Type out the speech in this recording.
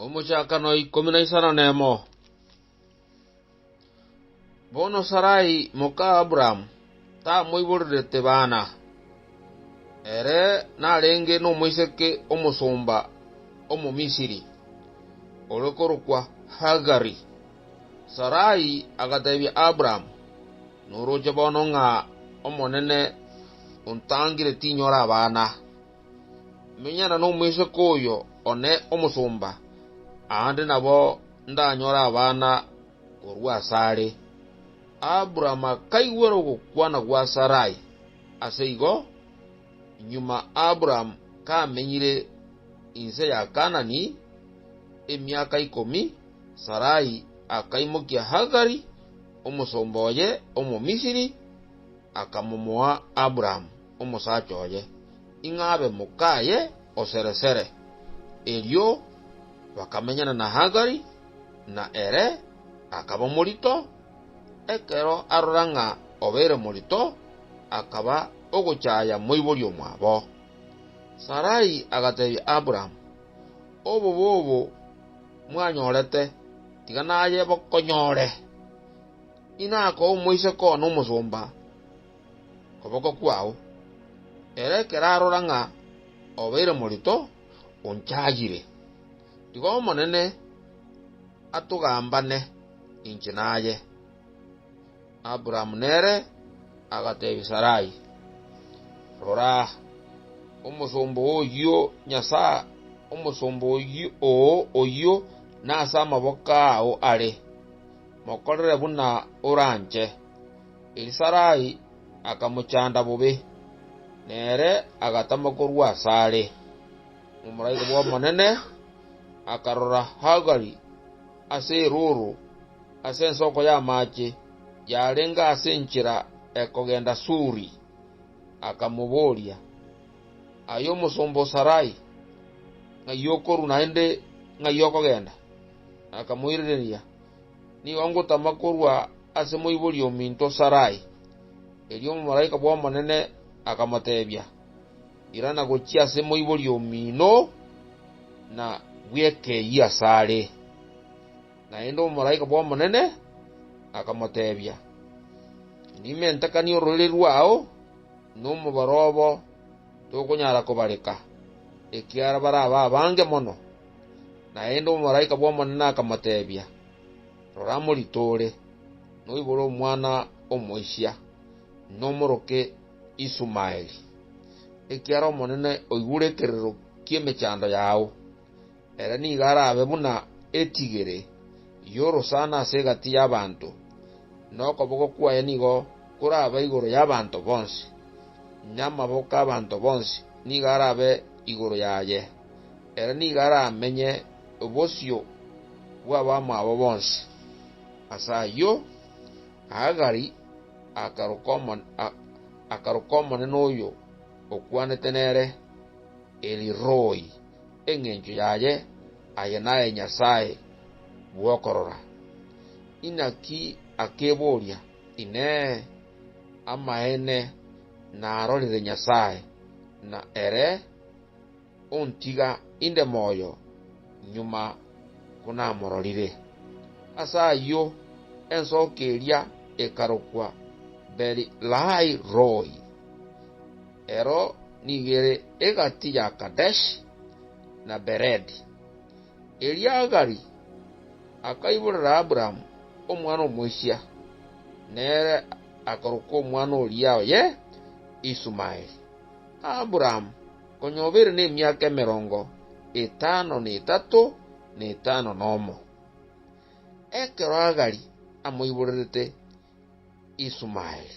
Omochakano ikomi na isano nemo. Bono Sarai moka Abrahamu tamoiborerete bana, ere narenge nomoiseke omosomba Omomisiri, ore korokwa Hagari. Sarai agateebia Abrahamu, Noroche bono ng'a Omonene ontangire tinyora abana. Menyana nomoiseke oyo one omosomba, aande nabo ndanyore abana korwa asare. Abraham akaigwera ogokwana gwa Sarai. Ase igo, nyuma Abraham kamenyire inse ya Kaanani emiaka ikomi, Sarai akaimokia Hagari, omosomba oye Omomisiri, akamomoa Abraham. omosacha oye, ing'a abe mokaye o sere-sere. Erio bakamenyana na Hagari, na ere akaba morito. Ekero arora ng'a obeire morito, akaba ogochaya moibori omwabo. Sarai agatebia Aburaamu, Obobe obo mwanyorete, tiga naye bokonyore, inakoo omoiseke one omosomba. oboko kwao, ere ekero arora ng'a obeire morito, onchayire. Igo Omonene atogambane inche naye. Abrahamu nere agatebia Sarai, Rora, omosomba oyio Nyasae omosomba oo oyio nase amaboko ao are, mokorere buna oranche. Erio Sarai akamochanda bobe, na ere agatama korwa asare. Omomalaika bw'Omonene akarora Hagari ase erooro ase ensoko y'amaache yarenge ase enchera ekogenda Suri, akamoboria, Aye omosomba o Sarai, ng'ai okorwa naende ng'ai okogenda? Akamoiraneria, Nigo ngotama korwa ase moibori ominto Sarai. Erio omomalaika bw'Omonene akamoteebia, Irana gochia ase moibori omino, na bw'ekeyie asare. Naende omomalaika bw'Omonene akamoteebia, Ndime ntakanie ororiri rwao nomobaro obo tokonyara kobareka, ekiara barabe abange mono. Naende omomalaika bw'Omonene akamotebia, Rora moritoore, noibore omwana omoisia, nomoroke Isumaeli, ekiagera Omonene oigure ekerero ki'emechando yao. Ere nigo arabe buna etigere y'orosana ase egati y'abanto, na okoboko kwaye nigo korabe igoro y'abanto bonsi, na amaboko 'abanto bonsi nigo arabe igoro yaye. Ere nigo aramenye bosio bw'abamwabo bonsi. Ase ayio Hagari akaroka omonene oyo okwanete nere El-Roi, engencho yaye aye naye Nyasae bw'okorora. Inaki akeboria, Inee! Amaene narorire Nyasae, na ere? ontiga inde moyo nyuma konamororire. Ase ayio ensooki eria ekarokwa Beeri-lahai-roi. Ero nigo ere egati ya Kadeshi na Beredi. Erio Hagari akaiborera Aburaamu omwana omoisia, nere akarokwa omwana oria oye Isumaeli. Aburaamu Onye obe ere nemiaka emerongo etano na etato na etano na omo, ekero Hagari amoiborerete Isumaeli.